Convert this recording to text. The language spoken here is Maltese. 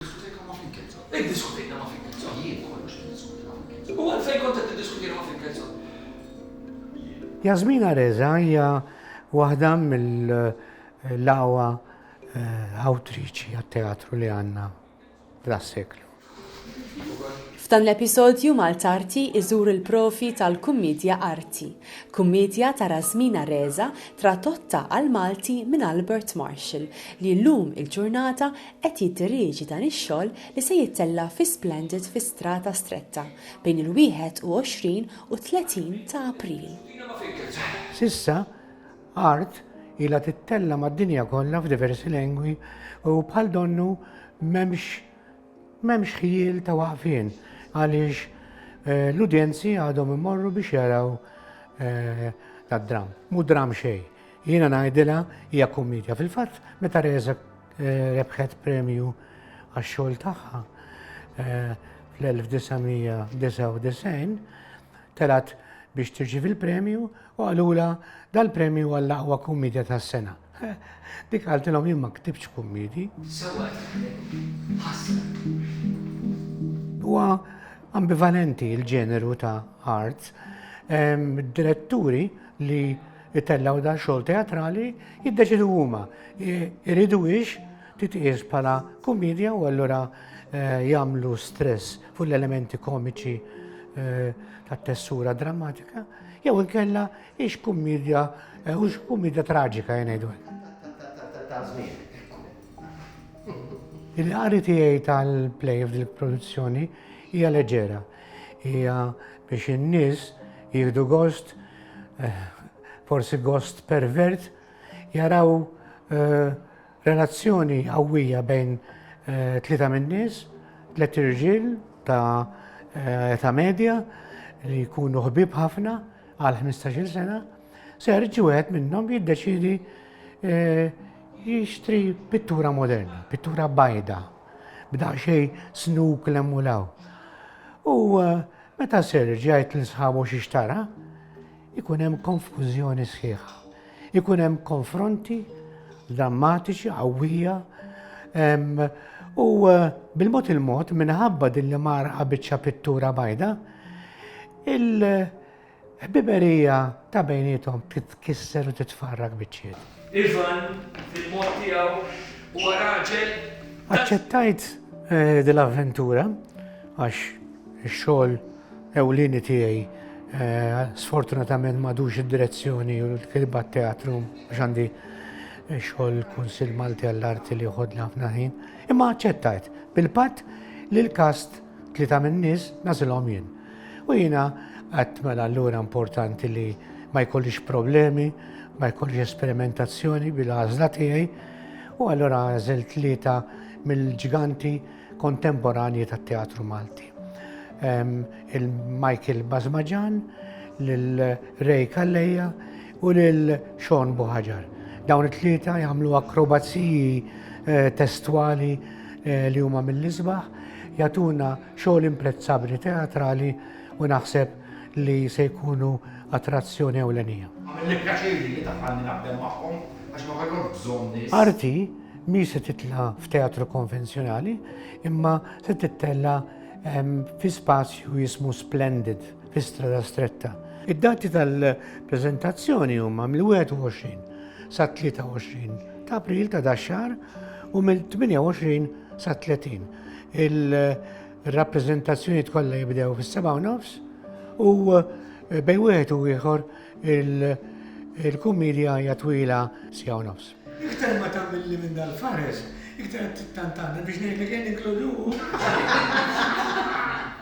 Iddiskutejna ma' Finkelzon. Iddiskutejna ma' Finkelzon. Jien kollox niddiskuti ma' Finkelzon. U għalfejn kont qed tiddiskutini ma' Finkelzon? Jien. Yasmin Areza hija waħda mill-aqwa awtriċi għat-teatru li għandna f'das-seklu. Jien ukoll. F'dan l-episodju Maltarti iżur il-provi tal-kummidja arti. Kummidja ta' Rasmin Areza tradotta għall-Malti minn Albert Marshall li llum il-ġurnata qed jiddirieġi dan ix-xogħol li se jittella' fi Splendid fi Strata Stretta bejn il-21 u t-30 ta' April. S'issa, Art ilha tittella' mad-dinja kollha f'diversi lengwi u bħal donnu m'hemmx m'hemmx ħjiel ta' waqfien għaliex l-udjenzi għadhom imorru biex jaraw dad-dramm. Mhu dramm xejn. Jiena ngħidilha hija kummiedja. Fil-fatt, meta Resa Rebħet premju għax-xogħol tagħha fl-1999 telgħet biex tirċievi l-premju u qalulha dal-premju għall-aqwa kummedja tas-sena. Dik qaltilhom jien ma ktibtx kummedji. Sewwa qed taħdem. Ħasra. Huwa ambivalenti l-ġeneru ta' arts. Id-diretturi li Itellgħu dan xogħol teatrali jiddeċidu huma iridu hix titqies bħala kumedja u allura eh, jagħmlu stress fuq l-elementi komiċi eh, tat-tessura drammatika jew inkella hix kumedja eh, hux kumedja traġika jgħidu. Il-qari tiegħi tal-play f'dil produzzjoni hija leġera. Hija biex in-nies jieħdu gost, eh, forsi gost pervert, jaraw eh, relazzjoni qawwija bejn eh, tlieta min-nies, tliet irġiel ta' ta' medja li jkunu ħbib ħafna għal 15-il sena, serġ u għed minnom jiddeċidi eh, jixtri pittura moderna, pittura bajda. b'daqsxejn snuk l-hemm u l-hawn. U eh, meta Serge jgħid l sħabu xi xtara, ikun hemm konfużjoni sħiħa. Ikun hemm konfronti drammatiċi, qawwija, u eh, bil-mod il-mod minħabba din li marqa biċċa pittura bajda, il- Ħbiberija ta' bejniethom titkisser u titfarrak biċċiet. Ivan, fil-mod tiegħu, huwa raġel ta'. Aċċettajt din l-avventura għax ix-xogħol ewlieni tiegħi sfortunatament m'għadux id-direzzjoni u l-kitba t-teatru għax għandi xogħol Kunsill Malti għall-Arti li joħodli ħafna ħin. Imma aċċettajt bil-patt li l-kast Tlieta min-nies nagħżilhom jien. U jiena għedt mela allura importanti li ma jkollix problemi, ma jkollix esperimentazzjoni bil-għażla tiegħi, u allura għażel tlieta mill-ġganti kontemporanji tat-teatru Malti. Ehm, Il-Michael Bazmaġan, l-Ray Kalleja, u lil Sean Buħaġar. Dawn it-tlieta jagħmlu akrobaziji eh, testwali eh, li huma mill-isbaħ, jagħtuna xogħol imprezzabbli teatrali u naħseb li se jkunu attrazzjoni ewlenija. Għamilli pjaċiri li tafalni naħdem magħhom għax ma kellhom bżonn nies. Arti mi se titla f'teatru konvenzjonali imma se tittella ehm, fi spazju jismu Splendid fi Strada Stretta. Id-dati tal-preżentazzjoni huma mill-21 sa 23 ta' April ta' daxxar u mill-28 sa 30. Il-rappreżentazzjoni tkollha jibdew fis-7 nofs u eh, bej wieħed u ieħor il-kumedja hija twila sija nofs. Iktar ma tagħmilli minn dal-fares, iktar qed tittantanna biex ngħidlek jien inkludu.